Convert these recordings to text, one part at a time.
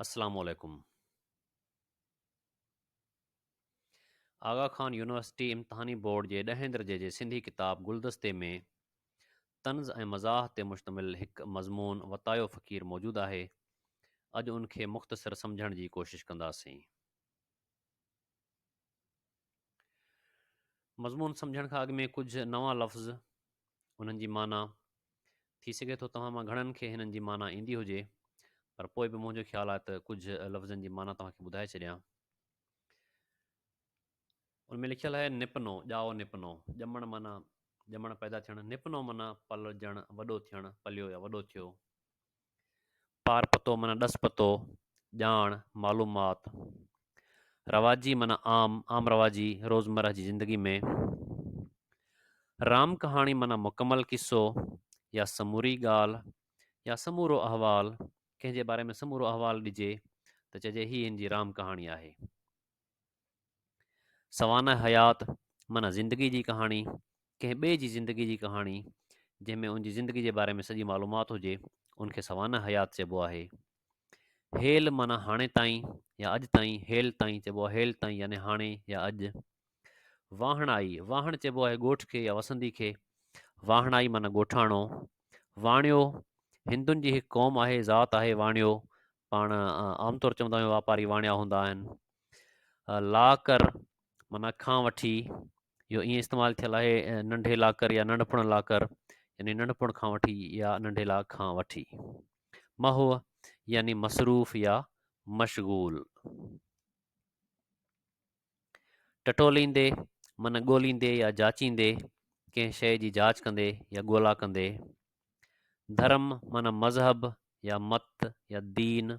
السلام عليڪم آغا خان يونيورسٽي امتحاني بورڊ جي ڏهين درجي جي سنڌي ڪتاب گلدستي ۾ طنز ۽ مزاح تي مشتمل هڪ مضمون وتايو فقير موجود آهي اڄ ان کي مختصر سمجهڻ جي ڪوشش ڪنداسين مضمون سمجھڻ کان اڳ ۾ ڪجھه نوان لفظ انهن جي معنيٰ ٿي سگھي ٿو توهان مان گھڻن کي هنن جي معنيٰ ايندي هجي پر پوء به منهنجو خيال آهي ته ڪجھه لفظن جي معنيٰ توهان کي ٻڌائي ڇڏيان ان ۾ لکيل آهي نپنو ڄائو نپنو ڄمڻ معنيٰ ڄمڻ پيدا ٿيڻ نپنو معنيٰ پلجڻ وڏو ٿيڻ پليو يا وڏو ٿيو پار پتو معنيٰ ڏس پتو، ڄاڻ، معلومات. رواجي معنيٰ عام، عام رواجي، روزمره جي زندگي ۾. رام ڪهاڻي معنيٰ مڪمل قصو يا سموري ڳالهه يا سمورو احوال، ڪنهن جي باري ۾ سمورو احوال ڏجي ته چئجي هي هن جي رام ڪهاڻي آهي. سوانح حيات معنيٰ زندگي جي ڪهاڻي ڪنهن ٻئي جي زندگي جي ڪهاڻي جنهن ۾ ان جي زندگي جي باري ۾ سڄي معلومات هجي ان کي سوانح حيات چئبو آهي هيل معنيٰ هاڻي تائين يا اڄ تائين هيل تائين چئبو آهي هيل تائين يعني هاڻي يا اڄ واهڻائي واهڻ چئبو آهي ڳوٺ کي يا وسندي کي واهڻائي معنيٰ ڳوٺاڻو واڻيو هندن جي هڪ قوم آهي ذات آهي واڻيو پاڻ عام طور چوندا آهيون واپاري واڻيا هوندا آهن لاڪر مانا کان وٺي جو ائين استعمال ٿيل آهي ننڍي لاکر يا ننڍپڻ لاکر يعني ننڍپڻ کان وٺي يا ننڍي لاک کان وٺي مهو يعني مصروف يا مشغول ٽٽوليندي من ڳوليندي يا جاچيندي ڪنهن شيء جي جاچ ڪندي يا ڳولا ڪندي ڌرم من مذهب يا مت يا دين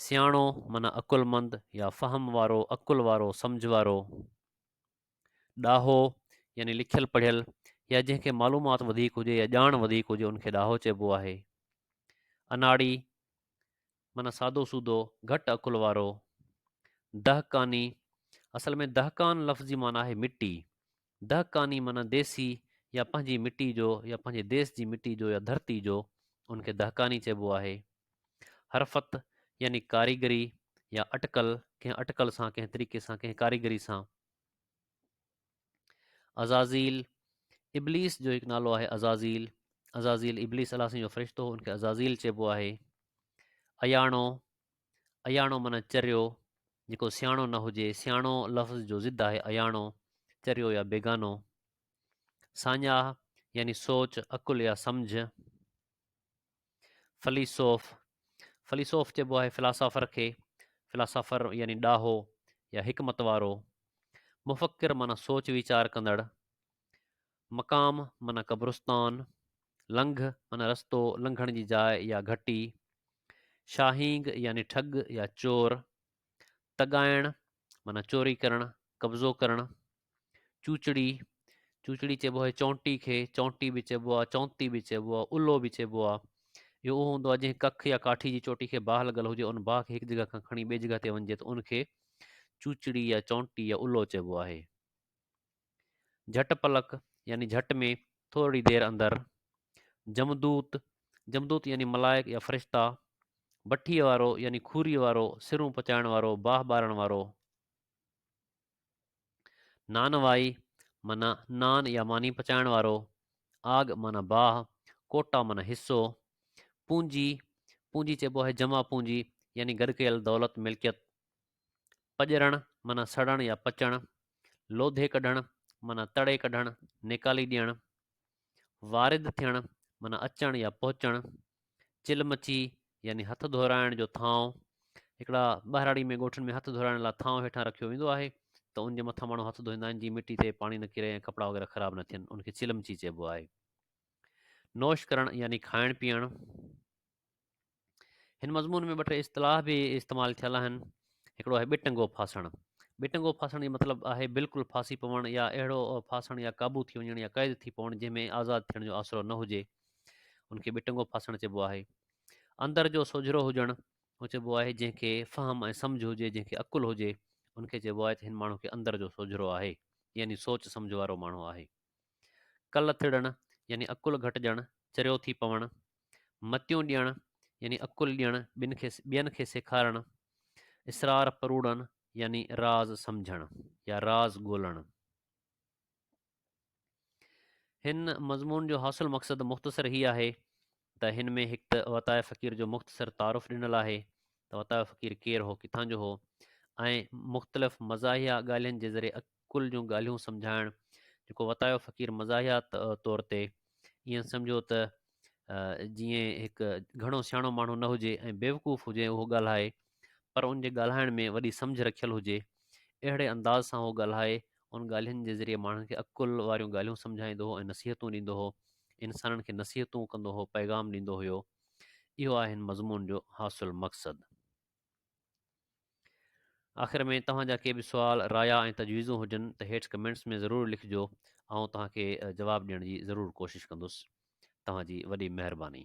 سياڻو من عقلمند يا فهم وارو عقل وارو سمجھ وارو ڏاهو يعني لکيل پڙهيل يا جنهن کي معلومات وڌيڪ هجي يا ڄاڻ وڌيڪ هجي ان کي ڏاهو چئبو آهي اناڙي معنيٰ سادو سودو، گهٽ عقل وارو. دهقاني، اصل ۾ دهقان لفظ جي معنيٰ آهي مٽي. دهقاني معنيٰ ديسي يا پنهنجي مٽي جو يا پنهنجي ديس جي مٽي جو يا ڌرتي جو، ان کي دهقاني چئبو آهي. حرفت يعني ڪاريگري يا اٽڪل، ڪنهن اٽڪل سان، ڪنهن طريقي سان، ڪنهن ڪاريگري سان. عزازيل ابليس جو هڪ نالو آهي عزازيل عزازيل ابليس الله سائين جو فرشتو ان کي عزازيل چئبو آهي اياڻو اياڻو معنی چريو جيڪو سياڻو نه هجي سياڻو لفظ جو ضد آهي اياڻو چريو يا بيگانو ساڃاهه يعني سوچ عقل يا سمجھ فليسوف، فليسوف چئبو آهي فلاسافر کي، فلاسافر يعني ڏاهو يا حڪمت وارو، مفڪر معنيٰ سوچ ويچار ڪندڙ، مقام معنيٰ قبرستان، لنگهه معنيٰ رستو لنگهڻ جي جاء يا گهٽي، شاهينگ يعني ٺڳ يا چور، تڳائڻ معنيٰ چوري ڪرڻ قبضو ڪرڻ چوچڙي چوچڙي چئبو آهي چونٽي کي چونٽي به چئبو آهي چونتي به چئبو آهي الو به چئبو آهي اهو اهو هوندو آهي جنهن ڪک يا ڪاٺي جي چوٽي کي باهه لڳل هجي ان باهه کي هڪ جڳهه کان کڻي ٻي جڳهه تي وڃجي ته ان کي چوچڙي يا چونٽي يا الو چئبو آهي جهٽ پلڪ يعني جهٽ ۾ ٿورڙي دير اندر، جمدوت، جمدوت يعني ملائڪ يا فرشتا، بٺيء وارو يعني کوريء وارو، سرون پچائڻ وارو، باهه ٻارڻ وارو. نانوائي معنيٰ نان يا ماني پچائڻ وارو، آڳ معنيٰ باهه، ڪوٽا معنيٰ حصو، پونجي، پونجي چئبو آهي جمع پونجي يعني گڏ ڪيل دولت، ملڪيت. پڄرڻ معنيٰ سڙڻ يا پچڻ، لوڌي ڪڍڻ معنيٰ تڙي ڪڍڻ، نيڪالي ڏيڻ، وارد ٿيڻ معنيٰ اچڻ يا پهچڻ، چل مچي يعني هٿ ڌورائڻ جو ٿانو، هڪڙا ٻهراڙي ۾ ڳوٺن ۾ هٿ ڌورائڻ لاء ٿانو هيٺان رکيو ويندو آهي ته ان جي مٿان ماڻهو هٿ ڌوئيندا آهن جيئن مٽي تي پاڻي نه ڪري ۽ ڪپڙا وغيره خراب نه ٿين ان کي چلمچي چئبو آهي نوش ڪرڻ يعني کائڻ پيئڻ هن مضمون ۾ ٻه ٽي اصطلاح به استعمال ٿيل آهن هڪڙو آهي ٻٽنگو ڦاسڻ ٻٽنگو ڦاسڻ جو مطلب آهي بلڪل ڦاسي پوڻ يا اهڙو ڦاسڻ يا قابو ٿي وڃڻ يا قيد ٿي پوڻ جنهن ۾ آزاد ٿيڻ جو آسرو نه هجي ان کي ٻٽنگو ڦاسڻ چئبو آهي اندر جو سوجھرو هجڻ اهو چئبو آهي جنهن کي فهم ۽ سمجھ هجي جنهن کي عقل هجي ان کي چئبو آهي ته هن ماڻهو کي اندر جو سوجھرو آهي يعني سوچ سمجھ وارو ماڻهو آهي ڪل تڙڻ يعني عقل گهٽجڻ، چريو ٿي پوڻ، متيون ڏيڻ يعني عقل ڏيڻ، ٻين کي ٻين کي سيکارڻ، اسرار پروڙڻ يعني راز سمجهڻ يا راز ڳولڻ. هن مضمون جو حاصل مقصد مختصر هي آهي ته هن ۾ هڪ ته وطاء فقير جو مختصر تعارف ڏنل آهي ته وطاء فقير ڪير هو ڪٿان جو هو ۽ مختلف مزاحيه ڳالهين جي ذريعي عقل جون ڳالهيون سمجهائڻ جيڪو وطاء فقير مزاحيه طور تي ائين سمجهو ته جيئن هڪ گهڻو سياڻو ماڻهو نه هجي ۽ بيوقوف هجي اهو ڳالهائي پر ان جي ڳالهائڻ ۾ وڏي سمجهه رکيل هجي، اهڙي انداز سان هو ڳالهائي، ان ڳالهين جي ذريعي ماڻهن کي عقل واريون ڳالهيون سمجهائيندو هو ۽ نصيحتون ڏيندو هو، انسانن کي نصيحتون ڪندو هو، پيغام ڏيندو هيو. اهو آهي هن مضمون جو حاصل مقصد. آخر ۾ توهان جا ڪي به سوال، رايا ۽ تجويزون هجن ته هيٺ ڪمينٽس ۾ ضرور لکجو، آئون توهان کي جواب ڏيڻ جي ضرور ڪوشش ڪندس. توهان جي وڏي مهرباني.